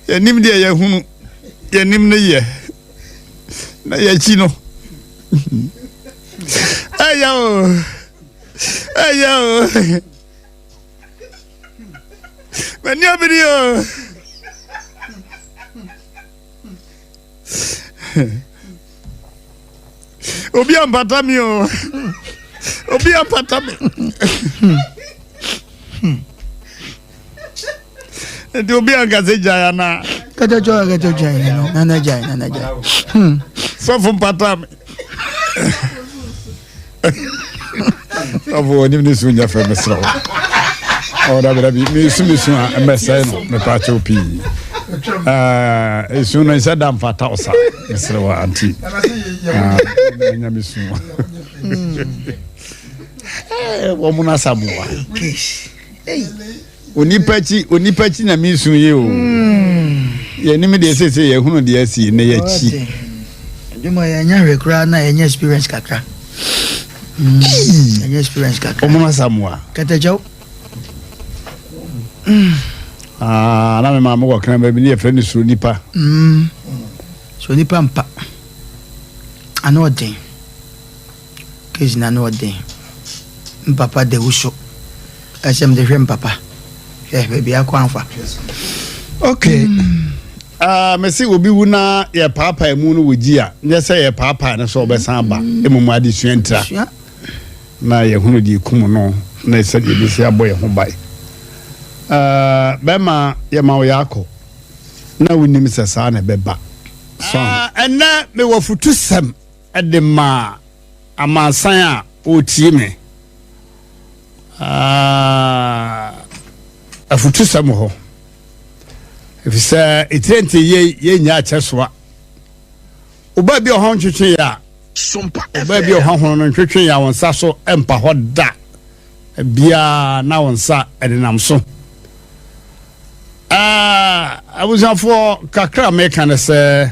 Yɛnim deɛ yɛhunu, yɛnim ne yɛ, na yɛakyi no. Ɛyɛ o, ɛyɛ o, mani abiri o. obi ampata me o obi ampata me nti obi anka sɛ gyae anaa kɛtɛkyɛ kɛtɛ gyae nana gyae nana gyae sɔfo mpata me ɔfo wɔnim ne su nya fɛ mesrɛ wo ɔdabidabi mesu me su a mmɛsɛe no mepaakyɛw pii ɛsu no ɛsɛ da mfa taw sa mesrɛ wo anti nya me su wɔmono asamoa Onipa akyi, onipa akyi na meresu yi o. Yɛnim deɛ seesei yɛhunu deɛ asi na yɛakyi. Adwuma yɛ ɛnyɛ hwee koraa na ɛnyɛ experience kakra. Ɛnyɛ experience kakra. Ɔmo asamoa. Kɛtɛkyɛw. Ah, na me maame wɔ kran baabi ne yɛfrɛ no suro nipa. Suro nipa mpa. Ano ɔden. Kegyina ano ɔden. Mpapa da wuso. Ɛsɛ mede hwɛ mpapa. Hwɛ baabi akɔ anfa. Okay. Mm. Uh, mese obi wu na yɛpaapaa mu no wɔgyi a nyɛ sɛ yɛpaapaa no sɛ ɔbɛsan ba mm. mmom adesua ntira na yɛhunu deɛ ɛkum no na sɛdeɛ ɛbɛsi abɔ yɛ ho bae uh, bɛma yɛma wo yɛakɔ na wonim sɛ saa na ɛbɛba ɛnɛ mewɔ fotusɛm de ma amansan a wɔretie me. Ah. Afutusɛm wɔ hɔ, efisɛ etire nti yɛ yɛnyɛ akyɛ soa. Ɔbaa bi ɔhɔn ntwetwe yɛ a, ɔbaa bi ɔhɔn hono no ntwetwe yɛ a wɔn nsa so mpa hɔ da biara na wɔn nsa ɛdenam so. Ah, abusuafoɔ kakra meka ne sɛ.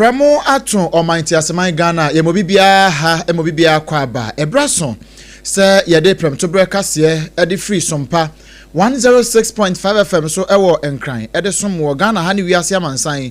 Prɛmo ato ɔman nteaseman Ghana yɛma obi biara ha ma obi biara kɔ aba ɛberɛ aso sɛ yɛde prɛmtoberɛ kaseɛ ɛde firi sompa 106.5 FM so ɛwɔ Nkran ɛde som wɔ Ghana ha ne wiase amansan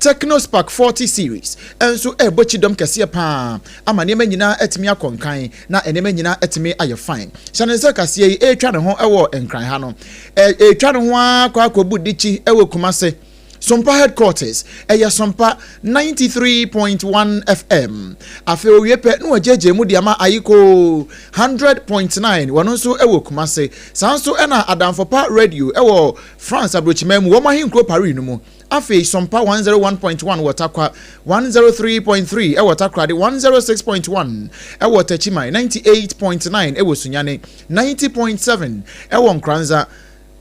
Tecno Spark 40 Series nso rebɔ kyidɔm kɛseɛ pa ara ama nneɛma nyinaa atumi akɔ nkan na nneɛma nyinaa atumi ayɛ fine. Hyɛ no nsa kaseɛ yi retwa ne ho wɔ Nkran ha no. Ɛretwa ne ho ara kɔ akɔbu dikyi wɔ Kumase, Sompa Headquarters, ɛyɛ Sompa 93.1 FM. Afei ɔwie pɛ na wɔagyaagyaa mu de ama Ayiko 100.9, wɔn nso wɔ Kumase. Saa nso na Adamfopa Radio wɔ France aburokyiman mu, wɔn ahenkuro Paris no mu. Afei Sompa one zero one point one wɔ Takwa, one zero three point three ɛwɔ Takoradi, one zero six point one ɛwɔ Takyiman, ninety eight point nine ɛwɔ Sunyani, ninety point seven ɛwɔ Nkoranza,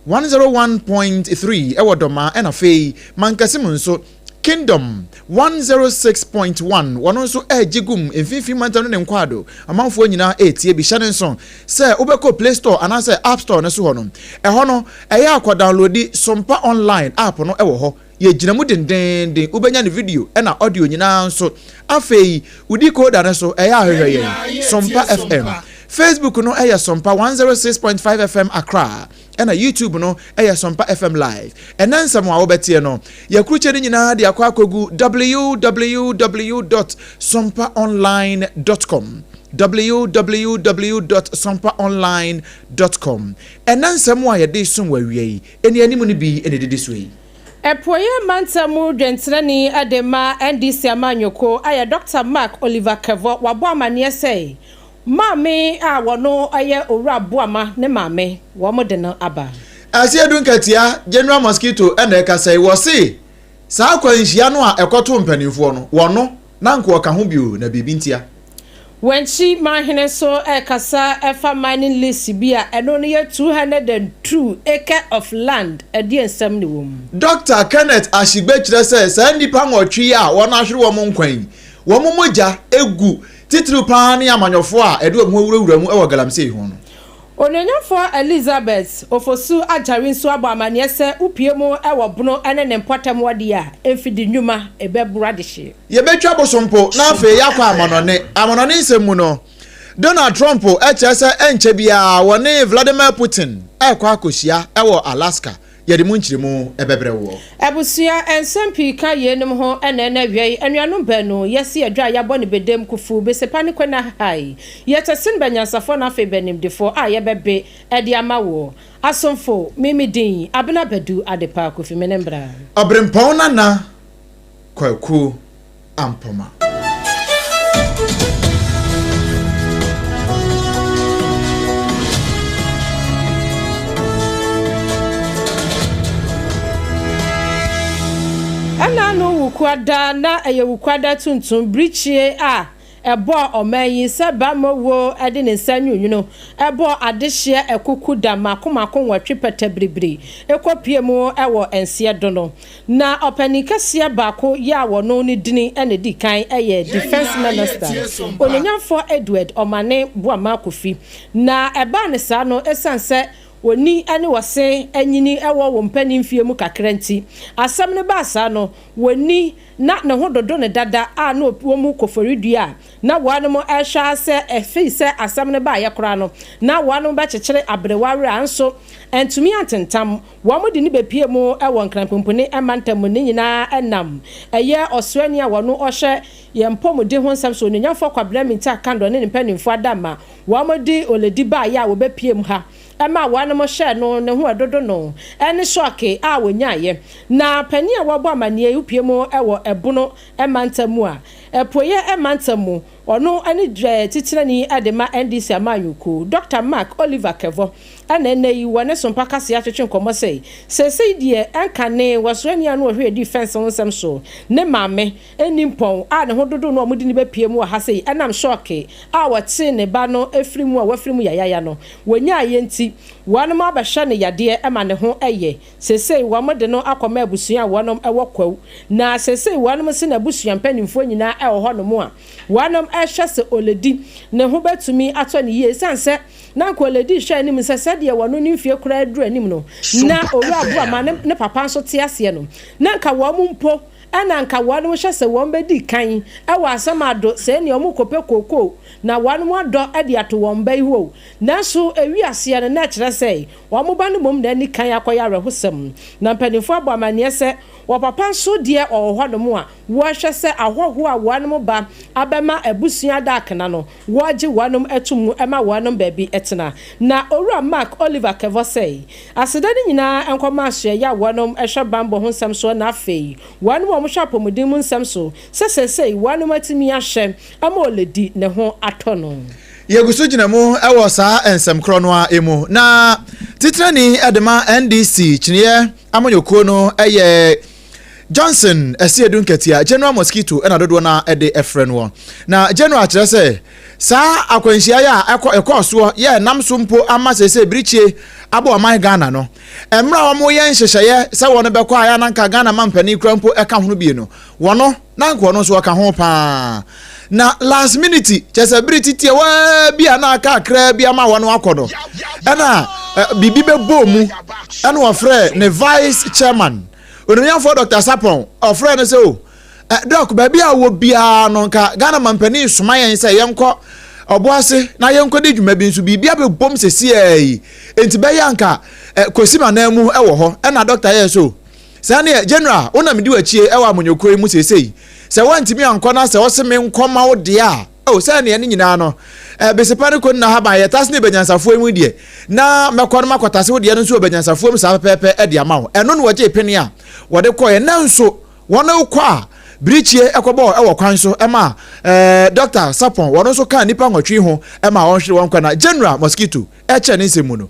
one zero one point three ɛwɔ Dɔmaa ɛna afei Mankasim nso Kingdom one zero six point one wɔn nso ɛregye gum mfinfin mantam ne ne nkwaado amanfoɔ nyinaa ɛretie bi hyɛ ne nso Sɛ wobɛkɔ Play Store anaasɛ App Store no so hɔ no, ɛhɔ no, ɛyɛ a kɔdawnlodi Sompa Online app no wɔ hɔ. Yɛgyina mu dendeenden, wobɛnya no video na audio nyinaa nso. Afei, wo decoder no so, ɛyɛ a hwehwɛ yɛn, Sompa FM. Facebook no yɛ Sompa one zero six point five FM Accra. ɛna YouTube no ɛyɛ Sɔmpa FM live. Ɛnɛ nsɛm a wobɛteɛ no, yɛakrukyɛ no nyinaa de akɔ akɔgu www.sompaonline.com www.sompaonline.com Ɛnɛ nsɛm a yɛde som wɔ awia yi, anianim no bi na ɛdidi soɔ yi. Apueeɛ mantam mu dwɛntenani de ma NDC amanyɔkuo ayɛ Dɔkta Mark Oliver Kɛvɔ, wabɔ amanneɛ sɛ Maame a wɔno yɛ Owura Boama ne maame wɔn de no aba. Ɛse edu nkatia General Mosquito na ɛkasa yi, wɔse saa akwanhyia no a ɛkɔtoo mpaninfoɔ no, wɔno na anka wɔka ho bio na biribi ntia. Wankyi Manhene nso ɛkasa ɛfa mining lease bi a ɛno no yɛ two hundred and two acre of land, ɛdeɛ nsɛm ne wɔ mu? Dɔkta Kenneth Ashigbe kyerɛ sɛ saa nnipa nwɔtwe yi a wɔahwere wɔn nkwa yi, wɔn mogya gu Titiriw paa ne amanyɔfo a ɛde wɔn ho awurawura mu wɔ galamsey ho no. Onuonyamfoɔ Elizabeth Ofosu Ajari nso abɔ amanneɛ sɛ wopue mu wɔ Bono ne ne mpɔtam hɔ deɛ a, mfidi nnwuma bɛboro adehyeɛ. Yɛbɛtwa bosompo na afei yɛakɔ amannɔne. Amannɔne nsɛm mu no, Donald Trump kyerɛ sɛ ɛnkyɛ biara wɔne Vladimir Putin rekɔ akɔhyia wɔ Alaska Yɛde mu nkyerɛmu bɛbrɛ woɔ. Abusua nsɛm pii ka yeinom ho ɛna ɛna awiei anuanom baanu yɛasi adwa a yɛabɔ no bedam Kufu Besepa ne Kwena Hahae. Yɛtɛ sen bɛnyansafoɔ na afei bɛnimdefoɔ a yɛbɛbe ɛde ama wo asomfo me me din Abena Badu Adepa Kofi me ne mbra. Ɔberempɔn Nana Kwaku. ampoma. Ɛna no wukuada na ɛyɛ wukuada tuntum, birikyie a Ɛbɔɔ ɔman yi sɛ bamma woo de ne nsa nwunwunu bɔɔ adehyeɛ akuku da mako mako nwɔtwe pɛtɛ biribiri kɔ pue mu wɔ nseɛ do no. Na ɔpanin kɛseɛ baako yɛ a wɔno ne dini na di kan yɛ Defence Minister, Onuonyamfoɔ Edward Omane Boamah Kofi. Na ɛbaa no saa no ɛsiane sɛ oni ne wɔse nyini wɔ wɔn mpanin mfeɛ mu kakra nti, asɛm no baa saa no, wɔni na ne ho dodo no dada a na wɔn mu koforidua a na wɔanom rehwɛ ara sɛ ɛfiri sɛ asɛm no baeɛ koraa no na wɔanom bɛkyekyere aberewa werɛ anso antumi antentam wɔn de no bɛpue mu wɔ Nkranpumpuni mantam mu ne nyinaa ɛnam ɛyɛ ɔsraani a wɔno ɔhwɛ yɛn mpɔmuden ho nsɛm so Onuonyamfoɔ Kwabena Mintah Kandor ne ne mpanimfoɔ adamma wɔn de oledi baeɛ a wɔbɛpue mu ha ma wɔnom hyɛɛ no ne ho dodo no ne sɔɔke a ɔnyaaeɛ. Na panin a wabɔ amanneɛ yi pue mu wɔ Ɛbono mantam mu a apueɛ mantam mu, ɔno ne titrani de ma NDC amanyɔkuo, Dɔkta Mark Oliver Kevor na ɛnnɛ yi wɔ ne sompa kaseɛ atwetwe nkɔmmɔ sɛ seesei deɛ ɛnkanee wɔsoa nnua no wɔ Hwɛ Di Fɛnse ho nsɛm so ne maame nni mpɔn a ne ho dodow no a wɔde no bepue mu wɔ ha sei nam hyɔɔke a wɔtee ne ba no afiri mu a wafiri mu yayaya no wɔnyaeɛ nti, wɔnom abɛhwɛ no yadeɛ ma ne ho yɛ. Seesei wɔde no akɔma abusua a wɔnom wɔ Kwawu, na seesei wɔnom se n'abusua mpanimfoɔ nyinaa wɔ hɔnom a wɔnom rehwɛ sɛ Oledi ne ho bɛtumi atɔ no yie esiane sɛ na anka Oledi hwɛ anim sɛ sɛdeɛ wɔnom ne mfie koraa aduru anim no na Owura Boamah ne ne papa nso te aseɛ no na anka wɔnom mpo Ɛna nka wɔnom hyɛ sɛ wɔn bɛdi kan wɔ asɛm ado sɛɛ nea wɔn rekɔpɛ kookoo na wɔnom adɔ de ato wɔn mba yi hɔ o. Nanso ɛwi aseɛ no na ɛkyerɛ sɛ wɔn ba no mmom na ani kan akɔyɛ awerɛhosɛm. Na mpaninfoɔ abɔ amaneɛ sɛ wɔ papa nso deɛ wɔwɔ hɔnom a wɔhwɛ sɛ ahɔhoɔ a wɔnom ba abɛma abusua ada akena no wɔgye wɔnom tom mu ma wɔnom baabi tena. Na Owura Mark Oliver Kevor sɛe aseda no nyinaa nkɔ ma asoɛeɛ a wɔnom hwɛ banbɔ ho nsɛm soɔ na afei wɔnom a wɔhwɛ apɔmuden mu nsɛm so sɛ seesei wɔnom atumi ahwɛ ama ɔledi ne ho atɔ no. Yɛgu so gyina mu wɔ saa nsɛm korɔ no ara mu na Titenani de ma NDC kyineɛ amanyɔkuo no yɛ Johnson ɛseɛ du nkatia, general mosquito ɛna dodoɔ no a ɛde ɛfrɛ noɔ. Na general kyerɛ sɛ saa akwanhyia yɛ a ɛkɔ ɛkɔɔ soɔ yɛ ɛnam so mpo ama sɛsɛ birikyie abɔ ɔman Ghana no. Mmerɛ a wɔyɛ nhyehyɛeɛ sɛ wɔn bɛkɔ a yɛ ananka Ghana mampanin kura mpo ɛka ho no bie no, wɔn na anka ɔno nso ɔka ho paa. Na last minute, kyerɛ sɛ bere titiawaa bi a na aka akraa bi ama wɔn akɔ no, ɛna biribi bɛbɔɔ mu, ɛna ɔfrɛɛ ne vice chairman, onimnyamfoɔ Dr. Sapon, ɔfrɛɛ no sɛ o, dɔk, baabi a wɔ biara no, nka Ghana mampanin soma yɛn sɛ yɛnkɔ ɔboase na yɛnkɔdi dwuma bi nso biribi abɛbom sɛsiaa yi, enti bɛyɛ anka Kwasima nan mu wɔ hɔ, ɛna dɔkta yɛɛ so. Saa neɛ General wo na medi wakyie wɔ amanyɔkuo yi mu seesei sɛ woantumi ankɔ na sɛ ɔse me nkɔ ma wo deɛ a oh sɛ neɛ ne nyinaa no eh, Besepa ne Koni Nahaban yɛ tase ne Banyansafoɔ yi mu deɛ na mɛkɔ no makɔ tase wo deɛ no nso wɔ Banyansafoɔ mu saa pɛpɛɛpɛ ɛde ama wo ɛno na wɔgyee pene a wɔde kɔɛ nanso wɔn kɔ a birikyie ɛkɔbɔɔ ɛwɔ kwan so ɛma eh, Dr. Sapon wɔn nso kaa nipa nwɔtwe ho ɛma wɔnhwere wɔn kɔ na General Mosquito ɛkyɛ ne nsɛm mu no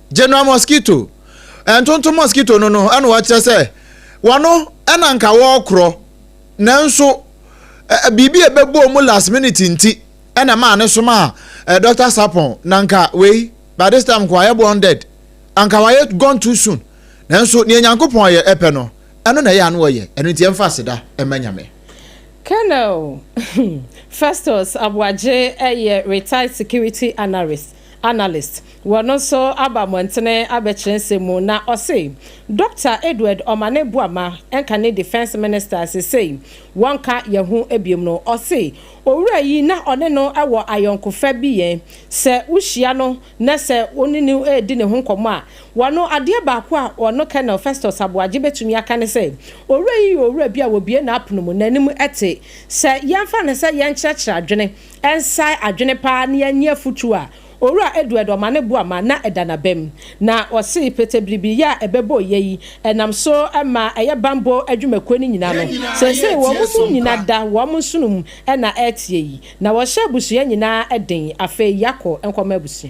General Mosquito, Ntontom Mosquito no no na wɔkyerɛ sɛ wɔno na nka wɔrekorɔ nanso biribi a ɛbɛbɔɔ mu last minute nti na ɛmaa ne somaa Dr. Sapon na nka wei by this time nka wayɛ born dead anka wayɛ gone too soon nanso nea Nyankopɔn yɛ ɛpɛ no ɛno na ɛyɛ ano ɔyɛ ɛno nti ɛmfa aseda ɛma Nyame. Colonel Festus Aboagye yɛ retired security analyst Analyst, wɔ no nso aba mmɔntene abɛkyerɛ nsɛm mu na ɔse Dɔkta Edward Omane Boama nka ne Defence Minister a sesei wɔnka yɛ ho biom no. Ɔse owura yi na ɔne no wɔ ayɔnkofa bi yɛ sɛ wohyia no na sɛ ɔne no redi ne ho nkɔmmɔ a wɔno adeɛ baako a ɔno Colonel Festus Aboagye bɛtumi aka ne sɛ owura yi yɛ owura bi a wɔbue n'apono mu n'anim te sɛ yɛmfa no sɛ yɛnkyerɛkyerɛ adwene Ɛnsae adwene paa ne anni afotu a Owura Eduedo ma no boa ma na ɛda n'abam. Na ɔse petebiribiyɛ a ɛbɛbɔ yɛ yi, ɛnam so ma ɛyɛ bammɔ adwumakuo no nyina no. Seesei wɔn mu nyina da wɔn nsono mu na ɛreteɛ yi. Na wɔhyɛ abusua nyinaa den. Afei yɛakɔ nkɔma abusua.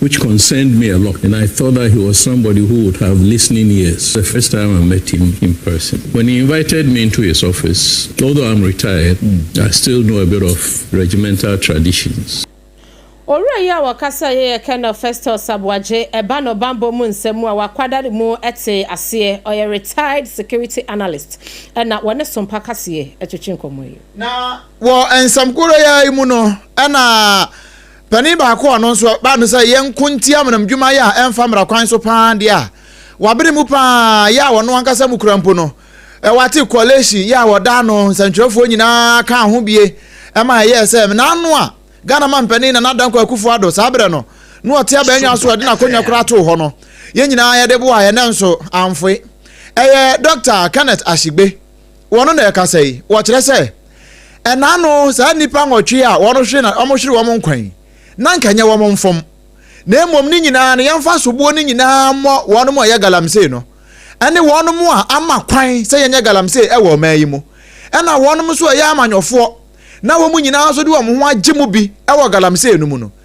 which concerned me a lot and I thought that he was somebody who would have listening ears the first time I met him in person when he invited me into his office although I'm retired I still know a bit of regimental traditions. Owura yi a wɔkasaeɛ yɛ Colonel Festus Aboagye, ɛba no bammɔ mu nsɛm mu a wakwadare mu tee aseɛ, ɔyɛ retired security analyst na wɔne Sompa Kaseɛ twetwe nkɔmmɔ yi. Na wɔ nsɛm koro yi ara mu no na. Panin baako a ɔno nso baa no sɛ yɛnko ntia amanamdwuma yɛ a ɛmfa mmara kwan so paa deɛ a wabere mu paa yɛ a ɔno ankasa mu kura mpo no, Ewati Coalition yɛ a wɔda ano nsɛntwerɛfoɔ nyinaa kaa ho bie ma ɛyɛɛ sɛ mmena ano a Ghana mampanin Nana Dankwa Akufo-Addo saa berɛ no na ɔte abannwa so a ɔde n'akonnwa koraa too hɔ no, yɛn nyinaa yɛde boaeɛ nanso amfoe. Ɛyɛ Dɔkta Kenneth Ashigbe. wɔn na ɛkasa yi, wɔkyerɛ sɛ, ɛna ano saa nnipa nwɔtwe a wɔhwere na wɔhwere wɔn nkwa yi, na anka ɛnyɛ wɔn mfom, na mmom ne nyinaa no yɛmfa soboɔ no nyinaa mmɔ wɔn a ɛyɛ galamsey no, ɛne wɔn a ama kwan sɛ yɛnyɛ galamsey wɔ ɔman yi mu, ɛna wɔn nso a ɛyɛ amanyɔfoɔ, na wɔn nyinaa nso de wɔn ho agye mu bi wɔ galamsey no mu no.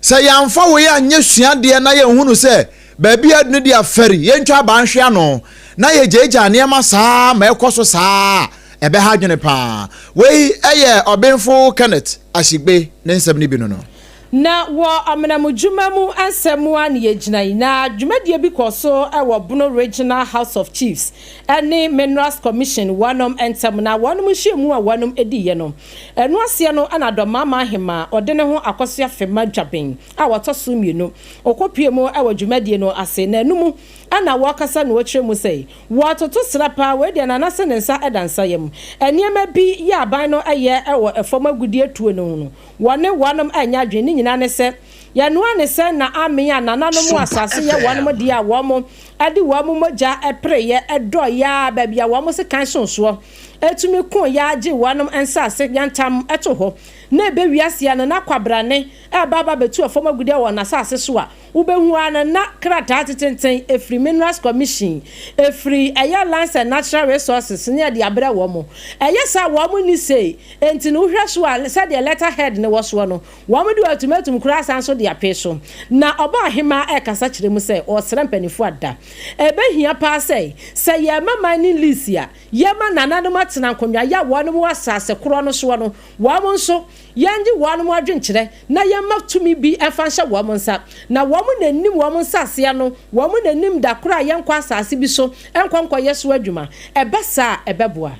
Sɛ yɛamfa woi anyɛ suadeɛ na yɛnhunu sɛ baabi a adu no deɛ fɛre yɛntwa abaa nhwe ano na yɛgyaagyaa nneɛma saa ma ɛkɔ so saa a, ɛbɛha adwene pa ara. Wei yɛ Ɔbenfo Kenneth Ashigbe ne nsɛm no bi no no. Na wɔ amenamudwuma mu ansa mu ara na yɛgyinae, na dwumadie bi kɔɔ so wɔ Bono Regional House of Chiefs ne Minerals Commission wɔnom ntam, na wɔnom nhyiamu a wɔnom diiɛ no, Ɛno aseɛ no na Dɔmmaama Ahemaa ɔde ne ho akɔso Afema Dwaben a wɔtɔ so mmienu. Ɔkɔpue mu wɔ dwumadie no ase na ɛno mu na wɔkasa na wɔkyerɛ mu sɛ wɔatoto sra paa, wei deɛ Nana se ne nsa da nsa yam. Nneɛma bi yɛ aban no yɛ wɔ fam agudeɛ tuo no ho no wɔne wɔnom nyɛ adwene, ne nyinaa ne sɛ yɛno ara ne sɛ na amen a nananom asaase yɛ wɔnom deɛ a wɔn de wɔn mogya pereeɛ dɔɔeɛ ara baabi a wɔn sekan soo soɔ. etumi kõ yɛ ara gye wɔanom nsaase yantam to hɔ, na ebe wiase ano na kwabrane reba aba abetu ɔfam agude wɔ n'asaase so a, wubehu ara no na krataa atententen firi Minerals Commission, firi ɛyɛ Lands and Natural Resources ne ɛde abrɛ wɔn. Ɛyɛ saa a, wɔn nni sei, enti no wohwɛ so a, sɛdeɛ letter head no wɔ soɔ no, wɔn de ultimatum koraa san so de apee so. Na Ɔbaahemaa rekasa kyerɛ mu sɛ ɔresrɛ mpanimfoɔ ada. Ebehia paa sɛ, sɛ yɛrema mining lease a, Yɛma nananom atsena nkonnwa ya wɔnom wɔ asaase korɔ no soɔ no, wɔnom nso, Yɛnnye wɔnom adwenkyerɛ na Yɛmma tumi bi mfa nhyɛ wɔnom nsa, na wɔnom na nnim wɔnom nsaase ano, wɔnom na nnim da korɔ a yɛnkɔ asaase bi so nkɔ nkɔyɛ so adwuma. Ɛba saa a, ɛbɛboa.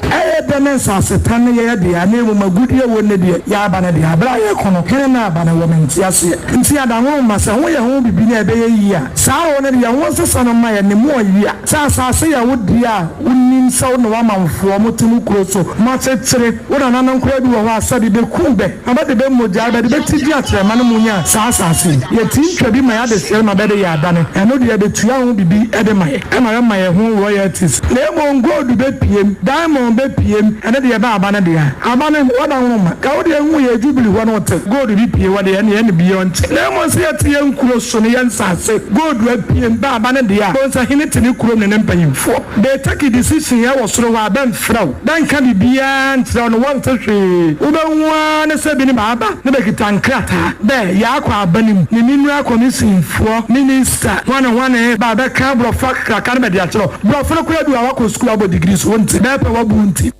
Ɛyɛ dɛ na nsaase tan no yɛ yɛ dea, na mmom agudeɛ wɔ nnɛ deɛ, yɛ aba no dea. Berɛ a yɛrekɔ no, hene na aba no wɔ me nteaseɛ nti, adahorow mma, sɛ ho yɛ ho bibi na ɛbɛyɛ yie a, saa horow no de, yɛn ho nsesa no mma yɛn, ne mu ɔyea. Sɛ asase yɛ wo dea a, wunim sɛ wo ne w'amanfoɔ a wɔte mo kuro so no akyekyere. Wo nananom koraa bi wɔ hɔ a, sɛ de bekum bɛ na bɛde bɛ mogya rebɛde bɛ ti di akyerɛ ma no munya saa asase yi. Yɛte ntwa bi ma yɛ adehyeɛ ma bɛde yɛ adane. Ɛno deɛ, betua ho biribi de ma yɛ. Ɛma yɛma yɛn ho royalties. Na mmom gold bepiem, diamond bepiem, ɛno deɛ ɛbɛ aba no dea. Aba no, wɔda nwoma. Ka wo deɛ hu yɛ Jubilee hɔ no wo te gold bi pie hɔ deɛ, ɛneɛ ɛne bi yɔnkye. Na mmom sɛ yɛte yɛn nkuro so no, yɛn nsase, gold apiem, bɛ aba ne dea a onsa hene te ne kurom ne ne mpanyimfoɔ de take decision yɛ wɔ soro hɔ a bɛmfrɛ wo bɛnka biribiara nkyerɛ wo ne wɔnte hwee wobɛhu ara ne sɛ binom aba ne bɛkita nkrataa dɛ yɛakɔ aba no mu ne ne nua kɔmisinfoɔ minista hwane hwane ba bɛka aborɔfo akraka no bɛde akyerɛ wo borɔfo no koraa bi wɔ a wakɔ sukuu abɔ degree so wonte bɛpɛ wabu wo nti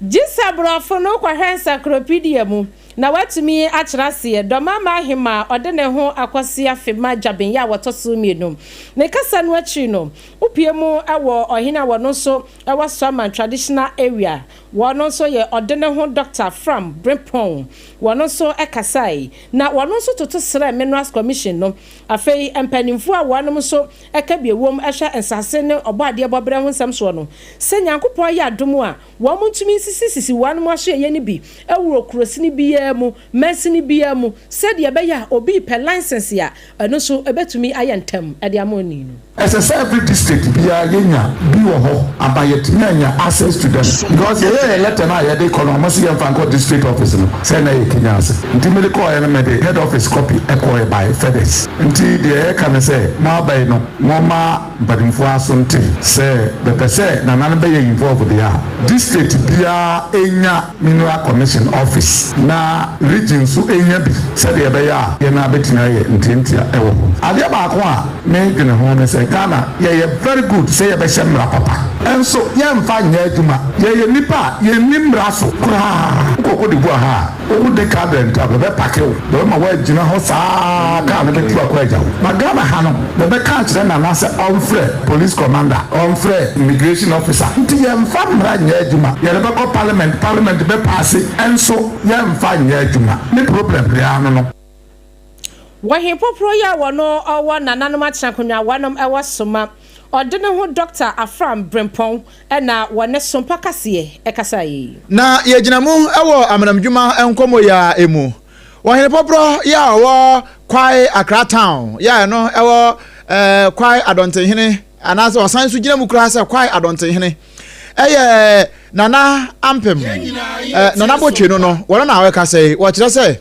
Gye sɛ Borɔfo no kɔhwɛ nsakropedia mu na wɔatumi akyerɛ aseɛ. Dɔmamma Ahemaa a ɔde ne ho akɔ Siafe ma Gyabenyɛ a wɔtɔ so mmienu. Ne kasa no akyiri no, wopue mu wɔ ɔhene a wɔno nso wɔ Suaman Traditional Area, wɔno nso yɛ ɔde ne ho Dɔkta Fram Brempong, wɔno nso kasae, na wɔno nso toto srɛɛ Minerals Commission no. Afei mpanimfoɔ a wɔnom nso ɛka bi ɛwom hwɛ nsase ne ɔbɔadeɛ bɔberɛ ho nsɛm soɔ no, sɛ Nyankopɔn ayɛ adom a, wɔnom ntumi nsisi sisi wɔnom asoɛeɛ no bi wɔ kurosini biara mu, mansini biara mu, sɛdeɛ ɛbɛyɛ a obi repɛ license a, ɛno nso ɛbɛtumi ayɛ ntɛm de ama onii no. Ɛsɛ sɛ every district biara yɛnya bi wɔ hɔ ama yɛatumi anya access to them because yɛyɛ yɛn letter no a yɛde kɔ no wɔn se yɛmfa nkɔ district office no sɛ na ɛyɛ Kenya ase nti mede kɔeɛ no mede head office copy kɔeɛ by fedex. Nti deɛ yɛreka ne sɛ, moaba yi no, momma mpanimfoɔ aso nte sɛ bɛpɛ sɛ Nana no bɛyɛ involve deɛ a, district biara nya mineral commission office na region nso nya bi sɛdeɛ ɛbɛyɛ a yɛn ara bɛtumi ayɛ ntiantia wɔ hɔ. Adeɛ baako a me dwene ho ne sɛ Ghana yɛyɛ very good sɛ yɛbɛhyɛ mmara papa nso yɛmfa nyɛ adwuma. Yɛyɛ nnipa a yɛnni mmara so koraa. Wokɔ Cote d'Ivoire ha a, Wo wo de car dɛn ta bɛbɛ pake wo bɛbɛ ma wa gyina hɔ saa car no bɛ tu akɔ agya wo ba Ghana ha no bɛbɛ ka akyerɛ Nana sɛ ɔnfrɛ police commander ɔnfrɛ immigration officer nti yɛ nfa mmra nyɛ adwuma yɛ de bɛ kɔ parliament parliament bɛ paase ɛnso yɛ nfa nyɛ adwuma ne problem biara no no. Wɔ he poprɔ yi a wɔno ɔwɔ nananom atenakonwa wɔnom ɛwɔ so ma ɔde ne ho Dɔkta Afram Brempɔn na wɔ ne so mpa kaseɛ ɛkasaa yi. Na yɛgyina mu wɔ amanamdwuma nkɔmmɔ yi ara ɛmu wɔ he poprɔ yi a ɔwɔ Kwae Accra Town yi a ɛno ɛwɔ eh, Kwae Adɔntenhene anaasɛ ɔsan so gyina mu koraa sɛ Kwae Adɔntenhene ɛyɛ Nana Ampem eh, Nana Botwe no no wɔno na ɔɛkasa yi wɔkyerɛ sɛ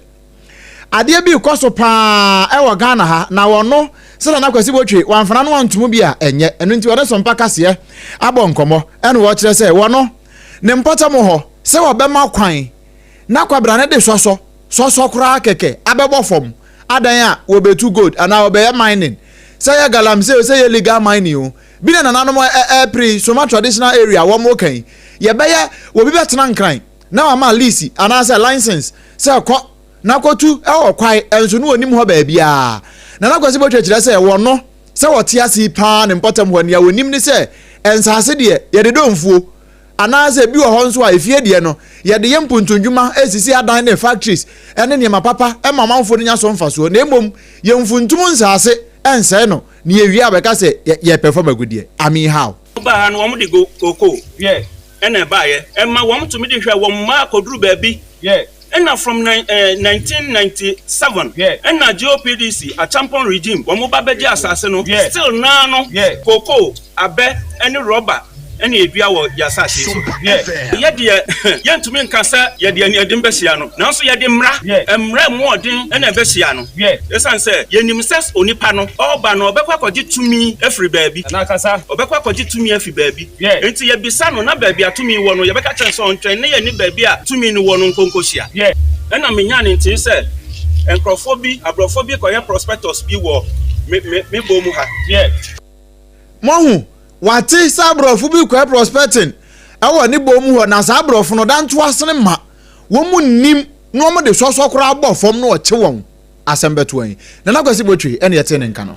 Adeɛ bi rekɔ so paa ɛwɔ Ghana ha na wɔno sɛdeɛ na Kwasi Botwe wamfana no antomu bi a ɛnyɛ ɛno nti wɔne Sompa Kaseɛ abɔ nkɔmmɔ ɛna wɔkyerɛ sɛ wɔno ne mpɔtam hɔ sɛ wɔbɛma kwan na kwabena no de sɔsɔ sɔsɔ koraa kɛkɛ abɛbɔ fam adan a wɔbɛtu gold anaa wɔbɛyɛ mining sɛ yɛ galamsey o sɛ yɛ legal mining o bi na nananom ɛpere Soma traditional area wɔn ka yi yɛbɛyɛ wɔbi bɛtena nkran Na wama lease anaasɛ license sɛ kɔ na kɔtu wɔ kwae nso na ɔnnim hɔ baabiara. Nana Kwasi Botwe kyerɛ sɛ wɔ no sɛ wɔte ase yi pa ara ne mpɔtam hɔ nea wɔnim ne sɛ nsase deɛ yɛde dɔ mfuo anaasɛ ebi wɔ hɔ nso a efie deɛ no yɛde yɛ mpontunndwuma sisi adan ne factories ne nneɛma papa ma amanfoɔ no nya so mfasoɔ na mmom yɛmfuntum nsase nsɛe no na yɛwie a bɛka sɛ yɛpɛ fam agudeɛ. Amihaw. Wɔbaa ha no wɔde cocoa yɛɛ Ɛna ɛbaeɛ, ɛma wɔn tumi de hwɛ wɔn mmaa kɔduru baabi. Ɛna from nine, eh, 1997, ɛna GOPDC, Acheampong regime, wɔn ba bɛgye asase no. Still naa no, cocoa, abɛ, ɛne rɔba ɛna ɛdua wɔ yɛn asase yi so. Yɛ deɛ, yɛntumi nka sɛ yɛde aniaden bɛhyia no, nanso yɛde mmara, mmara ɛmu ɔden ɛna ɛbɛhyia no. Ɛsiane sɛ yɛnim sɛ onipa no, ɔreba no, ɔbɛkɔ akɔgye tumi afiri baabi. Ɔbɛkɔ akɔgye tumi afiri baabi. Hwɛ! Enti yɛbisa no, na baabi a tumi wɔ no, yɛbɛka kyerɛ no sɛ ɔntwɛn na yɛne baabi a tumi no wɔ no nkɔ nkɔhyia. Hwɛ! Ɛnna menyaa ne nte sɛ nkurɔfoɔ bi, aborɔfoɔ bi rekɔyɛ prospectus bi wɔ me, me, me bɔ mu ha. Hwɛ! Moahu? Wate sɛ aborɔfo bi rekɔyɛ prospecting wɔ ne bɔ mu hɔ, na saa aborɔfo no, dantoasene mma wɔn nnim, na wɔde sɔsɔ koraa bɔ fam na wɔkye wɔn. Asɛm bɛtoa yi. Nana Kwasi Botwe na ɛtee ne nka no.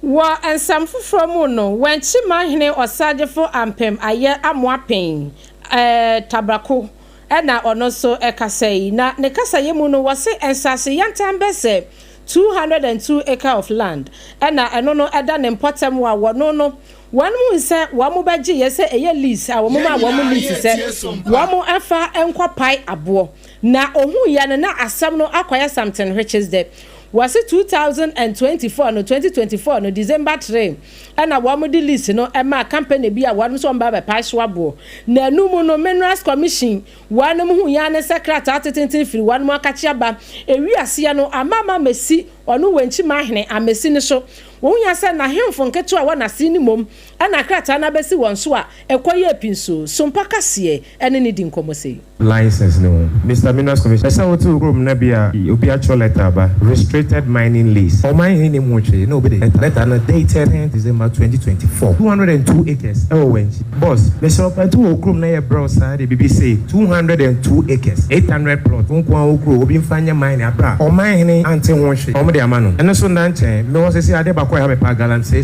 Wɔ nsɛm foforɔ mu no, Wankyima hene Ɔsagyefo Ampem ayɛ Amoapen ɛɛ Tabrako ɛna ɔno nso ɛkasa yi. Na ne kasa yɛ mu no wɔse nsase yantam bɛ sɛ 202 acre of land ɛna ɛno no ɛda ne mpɔtam wɔ a wɔno no wɔn mu nsɛ wɔn mo bɛ gye yɛ sɛ ɛyɛ lease a wɔn mo maa wɔn mo lease sɛ wɔn mo ɛnfa ɛnkɔ pae aboɔ Na ohuiɛ no na asɛm no akɔyɛ something which is the wɔse two thousand and twenty four no twenty twenty four no December three ɛna wɔn de list no ɛmaa company bi a wɔn nso wɔn ba bɛ pae so aboɔ na ɛno mu no minerals commission wɔn mo huiɛ ara ne sɛ krataa atetenten firi wɔn mo akakye aba ɛwi aseɛ no ama ama amesi ɔno wɛnkyi mahene amesi ne so wohuiɛ sɛ na hemfo nketewa wɔ naseɛ no mmom Ɛna krataa no abɛsi wɔn so a ɛkɔ yie pin so. Sompa Kaseɛ ɛne no di nkɔmmɔ sei. License no ho. Mister Mineral Commissioner, ɛsɛ wote wo kurom na bia obi atwerɛ letter aba, restricted mining lease. Ɔman he nnim ho hwee na obi de letter. Letter no dated ten December twenty twenty four. Two hundred and two acres ɛwɔ Wankyi. Boss, mesrɛ wo paa tu wɔ wo kurom na yɛ brɛ wo saa de bibi sei, two hundred and two acres, eight hundred plots, wo nkoaa wo kuro, obi mfa nyɛ mining abrɛ a ɔman he ante ho hwee. Ɔmo de ama no. Ɛno so nna nkyɛn. Mewɔ sesei adeɛ bako a ɛha me paa, galamsey.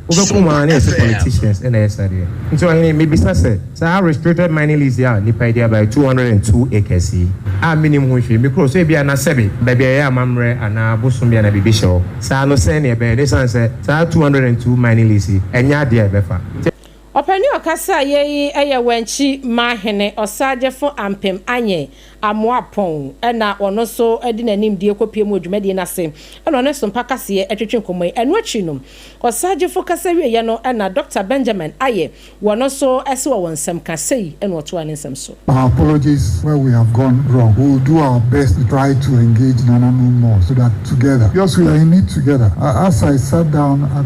Wobɛko waa na yɛse politicians na ɛyɛ saa deɛ nti ɔhene mebisa sɛ saa restricted mining lease a nipa yi de abaɛ two hundred and two acres yi a menim ho hwee me kuro so ebia na sɛbe baabi a yɛyɛ amamerɛ anaa bosom bi anaa biribi hyɛ hɔ saa no sɛn na ɛbɛyɛ na esiane sɛ saa two hundred and two mining lease yi ɛnyɛ adeɛ a ɛbɛfa Ɔpɛni ɔkasa a yei yɛ wɛnkyi ma hene ɔsaagyefo ampem anyɛ Amoah Pong na ɔno nso de n'anim die kɔpuee mu wɔ dwumadie no ase na ɔne Sompa Kaseɛ twetwe nkɔmmɔ yi. Ɛno akyi no, ɔsaagyefo kasa wieeɛ no na Dɔkta Benjamin Aye wɔno nso se wɔ wɔn nsɛm ka. Sei na ɔtoaa ne nsɛm so. Our apologies where we have gone wrong, we will do our best to try to engage nananom more so that together, because we are in it together, as I sat down at.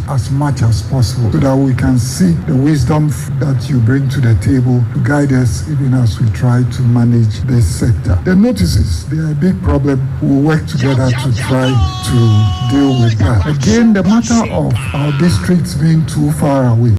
as much as possible so that we can see the wisdom that you bring to the table to guide us even as we try to manage this sector. The notices, they are a big problem, we will work together to try to deal with that. Again, the matter of our districts being too far away.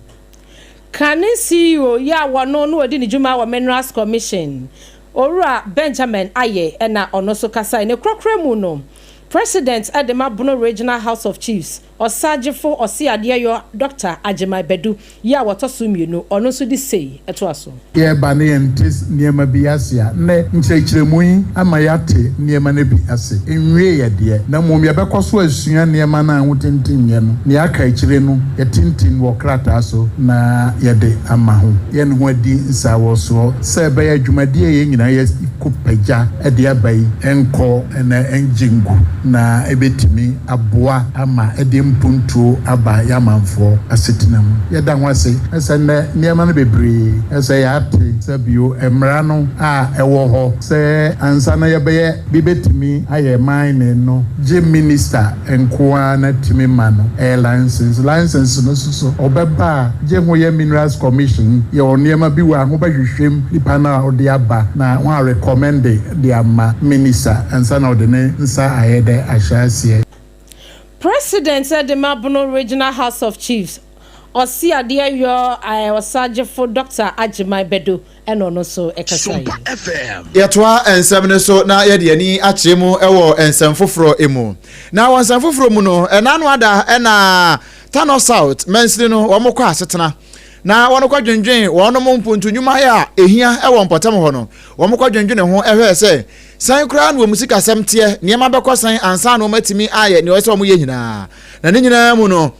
Kane CEO yi a wɔno na ɔdi ne dwuma wɔ Minerals Commission, Owura Benjamin Ayeh na ɔno nso kasae. Ne korakora mu no, President de ma Bono Regional House of Chiefs, Ɔsagyefo Ɔseadeɛyɔ Dɔkta Agyemang Badu yɛ a wɔtɔ so mmienu, ɔno nso de sei toa so. Yɛreba na yɛnte nneɛma bi ase a, nnɛ nkyerɛkyerɛmu yi ama yɛate nneɛma no bi ase. Enwiei ɛ deɛ, na mmom yɛbɛkɔ so asua nneɛma no a hotintimyɛ no. Nea aka akyire no, yɛatintim wɔ krataa so na yɛde ama ho. Yɛn ho adi nsawɔsoɔ sɛ ɛbɛyɛ dwumadie a yɛn nyinaa yɛakɔ pagya de aba yi nkɔ na ɛngye ngu na ɛbɛtumi. aboa ama ɛde mpuntuo aba yɛn amanfoɔ asetena mu. Yɛda ho ase sɛ nnɛ nneɛma no bebree sɛ yɛate sɛ bio mmara no a ɛwɔ hɔ sɛ ansa na yɛbɛyɛ bi bɛtumi ayɛ mining no gye minista nko ara na tumi ma no ɛyɛ license. License no nso so ɔbɛba a gye ho yɛ Minerals Commission yɛ wɔn nneɛma bi wɔ a ho bɛhwehwɛ mu nipa no a ɔde aba na wɔn a recommende de ama minista ansa na ɔde ne nsa ayɛ dɛ ahyɛ aseɛ. President de ma Bono Regional House of Chiefs Ɔseadeɛ Yor I Ɔsagyefo Doctor Agyemang Badu na ɔno nso kasaeɛ. Yɛtoa nsɛm no so na yɛde yɛn ani akyerɛ mu wɔ nsɛm foforɔ mu. Na wɔ nsɛm foforɔ mu no, ɛnna ano ada na Tano South mansini no wɔkɔ asetena. na wɔkɔdwendwene wɔnom mpontu nnwumayɛ a ɛhia wɔ mpɔtam hɔ no, wɔkɔdwendwene ho hwɛɛ sɛ sɛn koraa na wɔn sikasɛm teɛ, nneɛma bɛkɔ sɛn ansa na wɔatumi ayɛ nea ɛwɔ sɛ wɔyɛ nyinaa. Na ne nyinaa mu no,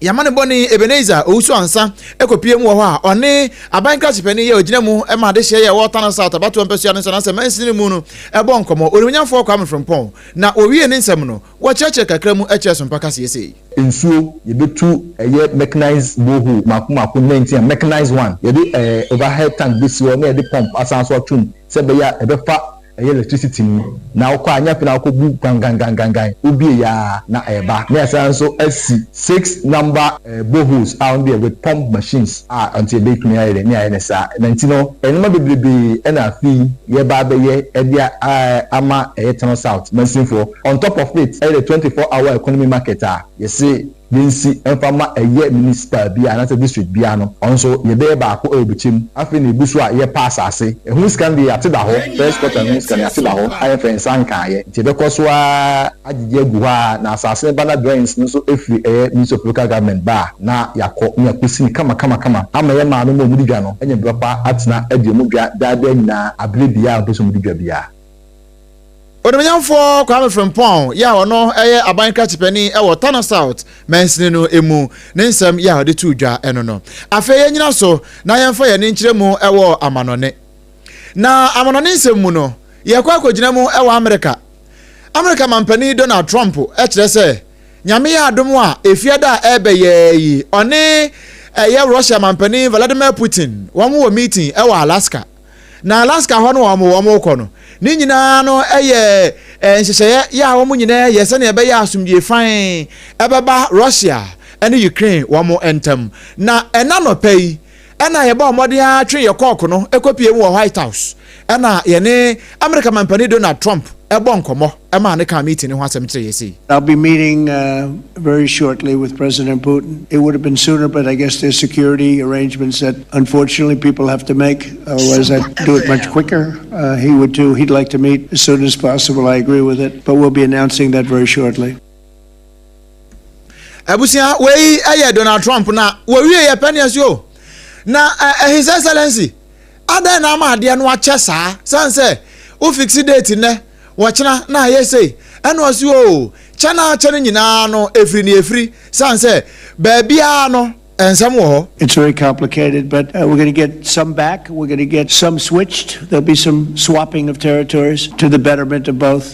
yɛn amanebɔne Ebenezer Owusu-Ansah kɔpue mu wɔ hɔ a ɔne aban nkraso panin yi a ɔgyina mu ma adehyeɛ yi a ɛwɔ Tano South abatoɔ mpasua no so anaasɛ mansini no mu no bɔɔ nkɔmmɔ, Onimnyamfoɔ Kwame Frimpong. Na wɔwiee ne nsɛm no, Wɔkyerɛkyerɛ kakra mu kyerɛ sompa kaseɛ sei. Nsuo, yɛbɛtu ɛyɛ mechanized borehole mmaako mmaako ne nantin a mechanized one, yɛde ɛɛ overhead tank bɛsi hɔ na yɛde pump asan nso ato mu sɛ ɛbɛyɛ a ɛbɛfa ɛyɛ electricity no na wokɔ a nyɛ afei na wokɔbu gangangangangan, wobiee yɛ ara na ɛreba. Na yɛasan nso asi six number ɛɛ boreholes a ɔno deɛ with pump machines a nti ɛbɛtumi ayɛ dɛn ne ayɛ no saa na nti no nnoɔma bebrebee na afei yɛreba abɛyɛ de a ɛɛ ama ɛyɛ Tano South mansinfoɔ. On top of it, ɛyɛ the twenty four hour economy market a yɛse yɛnsi mfa mma ɛyɛ municipal biara anaasɛ district biara no, ɔno nso yɛbɛyɛ baako wɔ bɛkyɛ mu. Afei na ɛgu so a yɛpa asaase. Ɛho sika no deɛ yɛate da hɔ, first quarter no ho sika no yɛate da hɔ a yɛmfɛɛ nsa nkaeɛ. Nti yɛbɛkɔ so ara agyegye agu hɔ ara na asaase no ba na drawings no nso firi ɛyɛ Ministry of Local Government ba a, na yɛakɔ na yɛakɔsi no kama kama kama ama yɛn maame ma wɔde dwa no anya berɛ pa atena adi wɔn dwa daa daa nyinaa aberɛ biara a wɔpɛ sɛ wɔde dwa biara. Onimuonyamfoɔ Kwame Frimpong yi a ɔno yɛ aban krakyipani wɔ Tano South mansini no mu ne nsɛm yi a ɔde too dwa no no. Afei yɛnnyina so na yɛmfa yɛn ani nkyerɛ mu wɔ amanɔne. Na amanɔne nsɛm mu no, yɛrekɔ akɔgyina mu wɔ Amerika. Amerika mampanin Donald Trump kyerɛ sɛ Nyame yɛ adom a Efiada a ɛrebɛyɛɛ yi ɔne ɛyɛ Russia mampanin Vladimir Putin wɔn wɔ meeting wɔ Alaska. Na Alaska hɔ no a wɔn rekɔ no, ne nyinaa no yɛ nhyehyɛeɛ yɛ a wɔn nyinaa yɛ sɛnea ɛbɛyɛ a asomdwoe fann bɛba Russia ne Ukraine wɔn ntam. Na ɛna nɔpɛ yi na yɛbɔɔ mmɔden ara twe yɛn kɔɔko no kɔpue mu wɔ White House na yɛne Amerika Mampanin Donald Trump bɔɔ nkɔmmɔ maa ne kaa meeting no ho asɛm kyerɛɛ yɛn sei. I'll be meeting very shortly with President Putin. It would have been sooner but I guess there's security arrangements that unfortunately people have to make otherwise I'd do it much quicker. He would too, he'd like to meet as soon as possible, I agree with it but we'll be announcing that very shortly. Abusua, wei yɛ Donald Trump na wɔwie yɛ pɛneɛ so o. Na eh, eh, His Excellency Adɛn na ama adeɛ no akyɛ saa? Sane sɛ wo fixe date nnɛ, ɔkyena na ayɛ sei, ɛna ɔse oo, kyɛ no ara kyɛ no nyinaa no ɛfiri ne ɛfiri, sane sɛ baabiara no nsɛm wɔ hɔ. It's very complicated but we're going to get some back, we're going to get some switched, there'll be some swapping of territories to the betterment of both.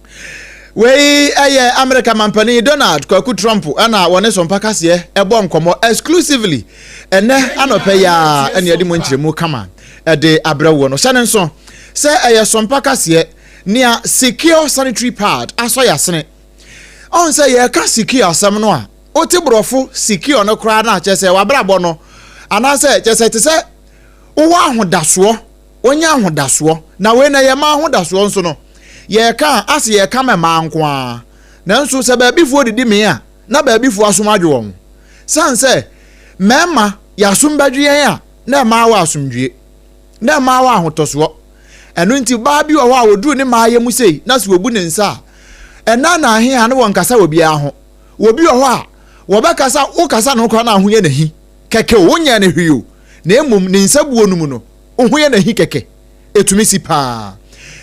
Wei yɛ Amerika Manpanin Donald Kwaku Trump na wɔne so mpa kaseɛ bɔ nkɔmmɔ exclusively ɛnɛ anɔpɛ yi a ɛne ɛde mu nkyerɛmu kama ɛde abrɛ woɔ no. Hyɛ no nso sɛ ɛyɛ so mpa kaseɛ nea secure sanitary pad asɔ yasene. Ɔn sɛ yɛka secure asɛm no a wote borɔfo secure no koraa na kyɛ sɛ wabrabɔ no anaasɛ kyɛ sɛ te sɛ wowɔ ahodasoɔ wɔnya ahodasoɔ. Na wei na yɛma ahodasoɔ nso no, yɛreka a, ase yɛreka mɛ mmaa nko ara. Nanso sɛ baabifoɔ didi mee a, na baabifoɔ asom adwe wɔn. Sane sɛ mmarima yɛasom bɛdwe yɛn a, na mmaa wɔ asomdwie. Na mmaa wɔ ahotɔsoɔ. Ɛno nti baa bi wɔ hɔ a ɔduru ne maayɛ mu sei na sɛ ɔbu ne nsa a, ɛnna na ahe a na wɔnkasa wɔ biara ho. Wɔ bi wɔ hɔ a, wɔbɛkasa, wokasa ne ho koraa na ahoyɛ no ahi. Kɛkɛ o, wonyɛɛ no hwee o, na mmom ne nsabuo no mu no, Oho yɛ n'ahi kɛkɛ. Etumi si paa.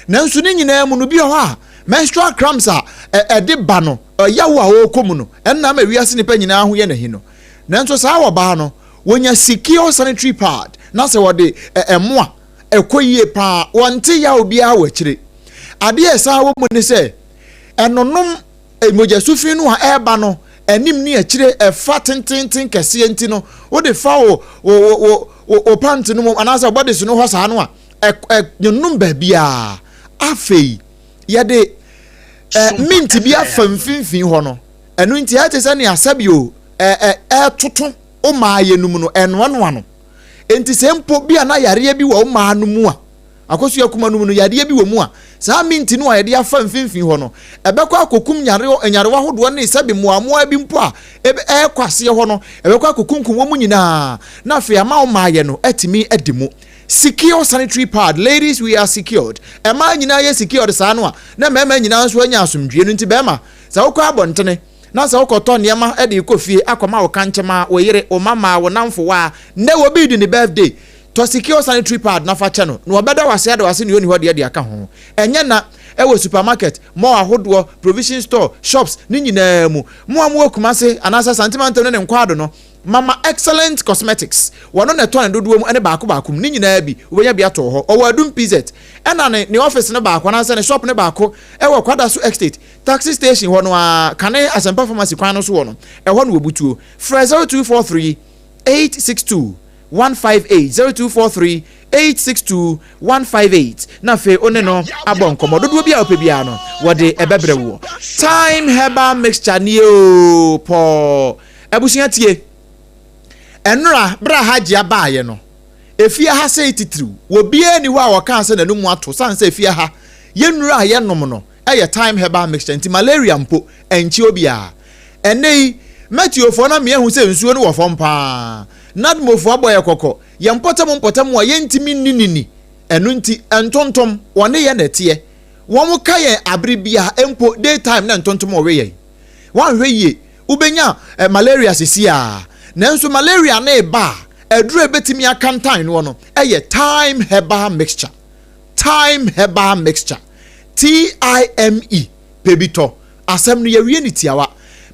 Nanso ne nyinaa mu no, bi wɔ hɔ a menstrual cramps a ɛde ba no, ɔyaw a ɔrekɔ mu no, ɛno na ama wiase nnipa nyinaa ho yɛ n'ahi no. Nanso saa a wɔbaa no, wɔnya secure sanitary pad, na sɛ wɔde ɛmo a, ɛkɔ yie paa. Wɔnte yaw biara wɔ akyire. Adeɛ a ɛsan wɔ mu ne sɛ, ɛnonom Mogyasuo fi no a ɛreba no anim ne akyire ɛfa tenteenten kɛseɛ nti no wode fa wo wo wo wo wo pant no mu anaasɛ wo bɔdese no hɔ saa no a ɛnwonom baabiara afei yɛde mint bi afa mfimfini hɔ no ɛno nti ɛte sɛ nea sɛbio ɛtoto wo maa yɛnum no ɛnoanoa no nti sɛ mpo bi a na yareɛ bi wɔ wo maa no mu a Akosua kuma no mu no, yadeɛ bi wɔ mu a saa minti no a yɛde afa mfimfini hɔ no, ɛbɛkɔ akɔkum nyarewa nyarewa ahodoɔ ne sɛbe mmoaammoaa bi mpo a ebe ɛrekɔ aseɛ hɔ no, ɛbɛkɔ akɔkunkum wɔn nyinaa na afei ama wo mmaeɛ no atumi adi mu. Secure sanitary pad, ladies we are secured, mmaa nyinaa yɛ secured saa no a na mmarima nyinaa nso anya asomdwoeɛ no nti barima sɛ wokɔ abɔntene, na sɛ wokɔtɔ nneɛma de rekɔ fie akɔma wo kankyema, wo yere, wo mmammaa, wo nnamfo, wo a nnɛ obi redi ne birthday, tɔ sikio sanitary pad na fa kyɛ no, na ɔbɛda wo ase ada wo ase nea onni hɔ deɛ de aka ho. Ɛnyɛ na ɛwɔ supermarket, mall ahodoɔ, provision store, shops, ne nyinaa mu. Mo a mowɔ Kumasi anaasɛ Asante Mantam ne ne nkwaado no, Mama Excellent Cosmetics, wɔno na ɛtɔ ne dodoɔ mu ne baako baako mu, ne nyinaa bi, wobɛnya bi atɔ wɔ hɔ. Ɔwɔ Adum PZ, ɛna ne ne office no baako anaasɛ ne shop no baako wɔ Kwadaso Estate. Taxi station hɔ no ara, kane Asɛmpa Pharmacy kwan no so hɔ no, ɛhɔ na wɔbutuo. Frɛ 0243 862 158, 0243 862 158, na afei wo ne no abɔ nkɔmmɔ. Dodoɔ bi a wopɛ biara no, wɔde ɛbɛbrɛ woɔ. Thyme herbal mixture nie oo, pɔɔ. Abusua tie. Ɛnora, berɛ a Hajia baeɛ no, efie ha sɛe titiriw. Obiara nni hɔ a wɔkaa sɛ n'anum ato, sane sɛ efie ha, yɛnnuru a yɛnom no, yɛ thyme herbal mixture nti malaria mpo ɛnkye obiara. Ɛnnɛ yi, Mɛtiofoɔ no ama yɛahu sɛ nsuo no wɔ fam pa ara. Nadmofoɔ abɔ yɛn kɔkɔ, yɛn mpɔtam mpɔtam a yɛntumi nni no ni. Ɛno nti, ntontom, wɔne yɛn na ɛteɛ. Wɔka yɛn abere biara, mpo day time na ntontom we yɛn. Woanhwɛ yie, wobɛnya malaria seesei ara. Nanso malaria no reba a, aduro a ɛbɛtumi akantan noɔ no yɛ thyme herbal mixture. Thyme herbal mixture. TIME, pɛ bi tɔ asɛm no yɛwie no tiawa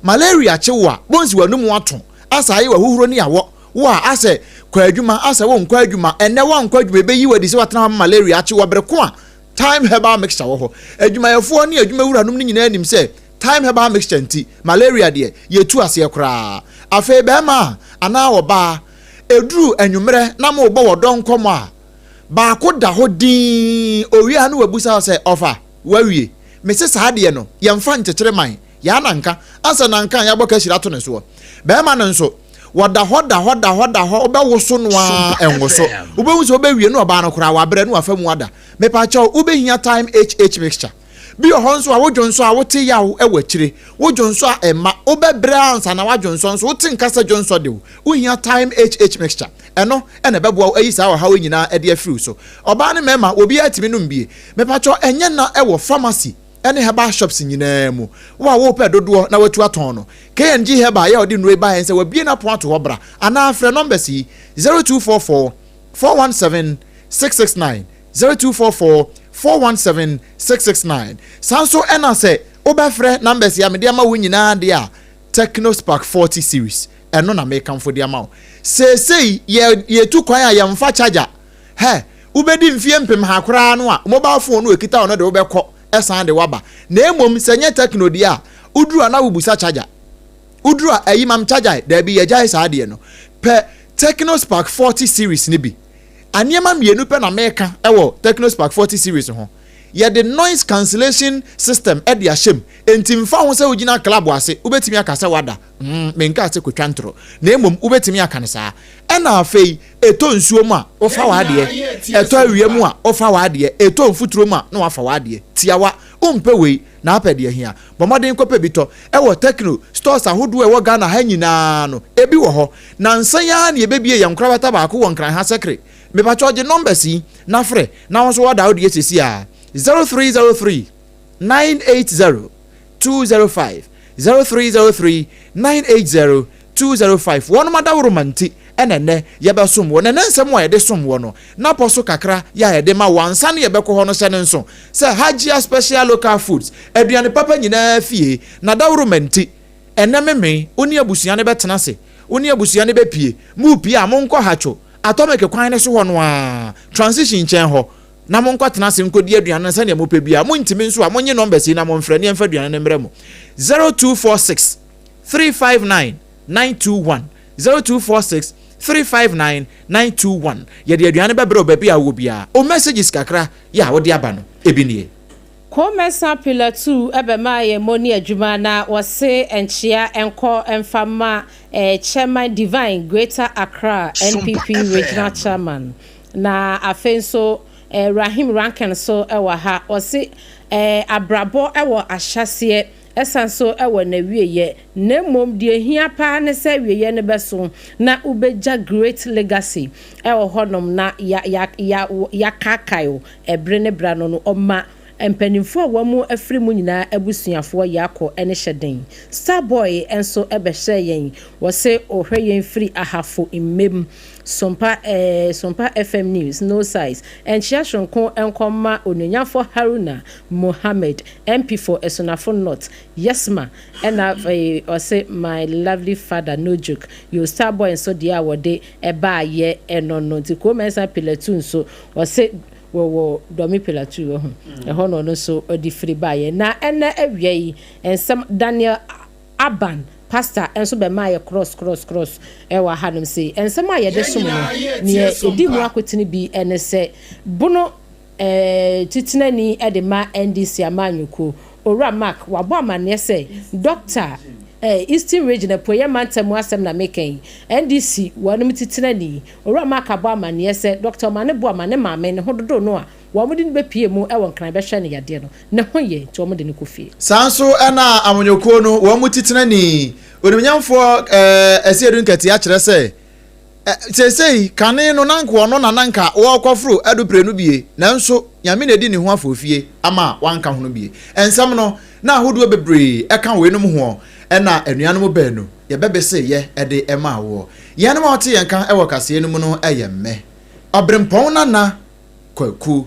Malaria kye wo a bonsi w'anomu ato Asɛ ayɛ w'ahohuro ne awɔ wo a Asɛ kɔ adwuma asɛ wo nkɔ adwuma Ɛnnɛ woankɔ adwuma ɛbɛyi wo adi sɛ woatena hɔ ama malaria akye wo Bere ko a Time herbal mixture wɔ hɔ Adwumayɛfoɔ ne adwumawuranom no nyinaa nim sɛ Time herbal mixture nti malaria deɛ yɛtu aseɛ koraa Afei bɛɛma anaa ɔbaa ɛduru anwummerɛ na morebɔ wɔ dɔ nkɔmmɔ a Baako da hɔ dinn, owie a na wabisa hɔ sɛ, Ɔfa, woawie? Mese, Saa deɛ no, yɛmfa nkyekyere man, yɛa na nka, ansa na nka yɛabɔ kahyire ato ne soɔ. Barima no nso, wɔda hɔ da hɔ da hɔ da hɔ, wobɛwoso no ara ɛnwo so. Wobɛhu sɛ wobɛwie na ɔbaa no koraa, wabrɛ na wafa mu ada. Mepaakyɛw, wobɛhia Thyme HH mixture. Bi wɔ hɔ nso a wo dwonsɔ a wote yaw wɔ akyire, wo dwonsɔ a ɛma wobɛbrɛ ansa na w'adwonsɔ nso wote nka sɛ dwonsɔ de wo, wohia Thyme HH mixture. Ɛno na ɛbɛboa wo ayi saa ɔhaw yi nyinaa de afiri wo so. Ɔbaa ne mmarima obiara tumi nom bi. Mepakyɛw ɛnyɛ nna ɛwɔ pharmacy ne herbal shops nyinaa mu. Wo a wopɛ dodoɔ na watu atɔn no. KNG Herbal yɛ a ɔde nnuro yi baeɛ nsɛ wabue n'apon ato hɔ bra anaa frɛ numbers yi, zero two four four, four one seven, six six nine. Zero two four four four one seven six six nine saa nso ɛna sɛ wobɛfrɛ numbers yi a mede ama wo nyinaa deɛ a Tecno Spark forty series ɛno na mekamfo de ama wo seesei yɛ yɛtu kwan a yɛmfa charger hɛ wobɛdi mfeɛ mpem ha koraa no a mobile phone no ɛkita wo no de wobɛkɔ ɛsan de waba na mmom sɛ nyɛ Tecno deɛ a woduru a na wobusa charger woduru a ayi mam charger daabi yɛgyae saa deɛ no pɛ Tecno Spark forty series no bi Nneɛma mmienu pɛ na meka wɔ Tecnospark 40 series ho. Yɛde noise cancellation system de ahyɛ mu, enti mfa ho sɛ wogyina club ase, wobɛtumi aka sɛ woada. Mm, menkaa sɛ kɔtwa ntoro, na mmom wobɛtumi aka no saa. Ɛna afei, ɛtɔ nsuo mu a, wofa w'adeɛ. Ɛtɔ awia mu a, wofa w'adeɛ. Ɛtɔ mfuturo mu a, na wafa w'adeɛ. Tiawa, wompɛ wei, na apɛ deɛ hia. Bɔ mmɔden kɔpɛ bi tɔ. Ɛwɔ Tecno stores ahodoɔ a ɛwɔ Ghana ha nyinaa no, ɛbi wɔ hɔ. Nansa yi ara na yɛbɛbue yɛn nkorabata baako wɔ Nkran ha Sekre. Mepakyɛw gye numbers yi na frɛ na wo nso order wo deɛ seesei ara, 0303 980 205, 0303 980 two zero five Wɔnom adaworoma nti na ɛnnɛ yɛbɛsom wɔ, na ɛnnɛ nsɛm a yɛde som wɔ no n'apɔ so kakra yɛ a yɛde ma wɔ ansa na yɛbɛkɔ hɔ no hyɛ no nso sɛ Hajia Special Local Foods aduane papa nyinaa fie n'adaworoma nti ɛnnɛ me me wo ne abusua no bɛtena ase wo ne abusua no bɛpie mopie a monkɔ Hatcho Atomic kwan no so hɔ no ara Transition nkyɛn hɔ na monkɔ tena ase nkɔdi aduane no sɛdeɛ mopɛ biara montumi nso a monye numbers yi na monfrɛ ne yɛmfa aduane no mmrɛ mo zero two four six three five nine nine two one zero two four six three five nine nine two one yɛde aduane no bɛbrɛ wo baabi a wowɔ biara o messages kakra yɛ a wode aba no ebi nie. Komɛsa pillar two bɛma yɛn moni adwuma na wɔse nkyea nkɔ mfa ma eh chairman Divine Greater Accra NPP regional chairman na afei nso eh Rahim Rankin nso wɔ ha ɔse eh abrabɔ wɔ ahyaseɛ Ɛsan so wɔ n'awieɛ, na mmom deɛ ɛhia paa ne sɛ awieɛ no bɛso na wobɛgya great legacy wɔ hɔnom na yɛakaakae wo ɛbere ne bere ano no. Ɔma mpaninfoɔ a wɔn afiri mu nyinaa abusuafoɔ yako ne hyɛ den. Star boy nso bɛhyɛɛ yɛn, wɔse ɔhwɛ yɛn firi Ahafo Mmam, Sompa Sompa FM News, No Size, Nkyea Soronko nkɔma Onuonyamfoɔ Haruna. Mohammed, MP for Esunafo North, Yesma, ɛna afei ɔse my lovely father no joke, yo star boy nso deɛ a wɔde ɛbaa yɛ ɛno no nti Kwoo Mensah Pilatuu nso ɔse wɔwɔ Dormy Pilatuu wahu ɛhɔ na ɔno nso ɔde firi baeɛ na ɛnɛ awia yi nsɛm Daniel Abban pastor nso bɛmaeɛ krɔs krɔs krɔs ɛwɔ hanom sei nsɛm a yɛde som no neɛ ɛdi mu akotene bi ɛne sɛ bono Titenani de ma NDC amanyɔkuo, Owura Mark wabɔ amaneɛ sɛ, Dɔkta, Eastern Region, Apueeɛ Mantam mu asɛm na meka yi. NDC wɔnom Titenani, Owura Mark abɔ amaneɛ sɛ, Dɔkta Omane Boah ma ne maame ne ho dodo no a wɔde no bɛpue mu wɔ Nkran bɛhwɛ no yadeɛ no, ne ho yɛ nti wɔde no kɔ fie. Saa nso na amanyɔkuo no wɔn mu Titenani, Onimnyamfoɔ Asiedu Nkɛtee akyerɛ sɛ, Ɛ Seesei, kane no, na anka ɔno na na anka ɔɔkɔforo adupre no bie, nanso Nyame na adi ne ho afɔɔfie ama wanka hono bie. Nsɛm no, na ahodoɔ bebree ɛka weinom hoɔ, ɛna anuanom baanu yɛbɛbese yɛ ɛde ɛmaa woɔ. Yɛnom a wɔte yɛn ka ɛwɔ kaseɛ no mu no ɛyɛ mme, Ɔberempɔn Nana Kwaku.